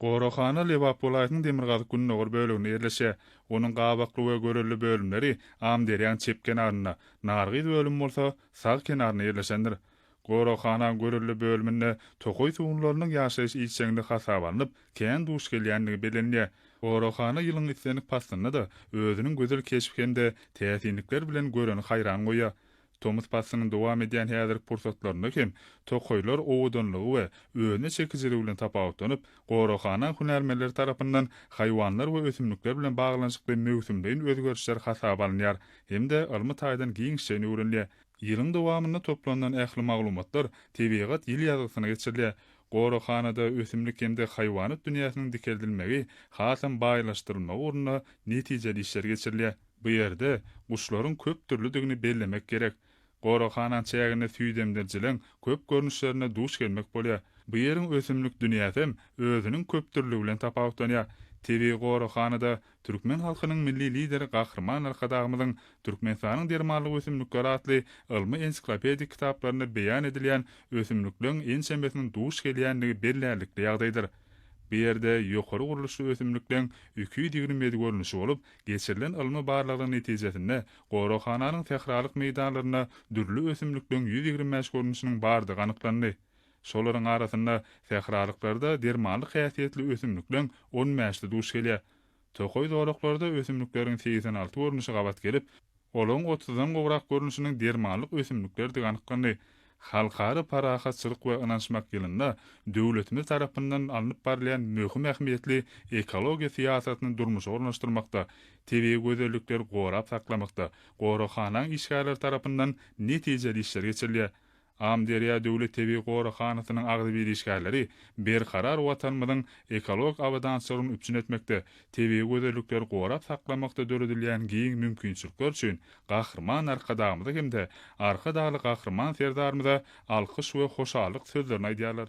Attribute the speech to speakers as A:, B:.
A: Goraghana Lebap welaýatynyň demirgazyk-gündogar böleginde ýerleşýär. Onuň gabakly we görelde bölümleri Amyderýanyň çep kenarynda, Nargyz bölümi bolsa sag kenarynda ýerleşendir. Goraghana görelde bölüminde tokaý sugunlarynyň ýaşaýyş ilçeginde hasaba alnyp, kän duş gelýändigi bellenilýär. Goraghana ýylyň islendik paslynda-da özüniň gözel keşbi hem-de täsinlikleri bilen göreni haýran goýýar. Tomus paslynyň dowam edýän häzirki pursatlarynda hem tokaýlar owadanlygy we özüne çekijiligi bilen tapawutlanyp, goraghana hünärmenleri tarapyndan haýwanlar we ösümlikler bilen baglanyşykly möwsümleýin özgerişler hasaba alynýar hem-de ylmy taýdan giňişjeýin öwrenilýär. Ýylyň dowamynda toplanylan ähli maglumatlar Tebigat ýyl ýazgysyna geçirilýär. Goraghanada ösümlik hem-de haýwanat dünýäsiniň dikeldilmegi, hasam baýlaşdyrylmagy ugrunda netijeli işler geçirilýär. Bu ýerde guşlaryň köp dürlüdigini bellemek gerek. Goraghananyň çäginde süýdemdirijiligiň köp görnüşlerine duş gelmek bolýar. Bu ýeriň ösümlik dünýäsem özüniň köpdürlügi bilen tapawutlanýar. Tebigy goraghanada türkmen halkynyň Milli Lideri Gahryman Arkadagymyzyň Türkmenistanyň dermanlyk ösümlikleri atly ylmy-ensiklopedik kitaplarynda beýan edilýän ösümlikleň ençemesiniň duş gelýändigi bellärlikli ýagdaýdyr. Bu ýerde ýokary gurluşly ösümlikleň iki ýüz ýigrimi ýedi görnüşi bolup, Geçirilen ylmy barlaglaryň netijesinde, goraghananyň sähralyk meýdanlarynda dürli ösümlikleriň ýüz ýigrimi bäş görnüşiniň bardygy anyklandy. Şolaryň arasynda sähralyklarda dermanlyk häsiýetli ösümlikleň on bäşisi duş gelýär. Tokaý zolaklarda ösümlikleriň segsen alty görnüşi gabat gelip, Olaryň otuzdan gowrak görnüşiniň dermanlyk ösümliklerdigi anyklandy. Halkara parahatçylyk we ynanyşmak ýylynda döwletimiz tarapyndan alnyp barylýan möhüm ähmiýetli ekologiýa syýasatyny durmuşa ornaşdyrmakda, tebigy gözellikleri gorap saklamakda goraghanaň işgärleri tarapyndan netijeli işler geçirilýär. Amyderýa döwlet tebigy goraghanasynyň agzybir işgärleri Berkarar Watanymyzyň ekologik abadançylygyny üpjün etmekde, tebigy gözellikleri gorap saklamakda döredilýän giň mümkinçilikler üçin Gahryman Arkadagymyza hem-de Arkadagly Gahryman Serdarymyza alkyş we hoşallyk sözlerini aýdýarlar.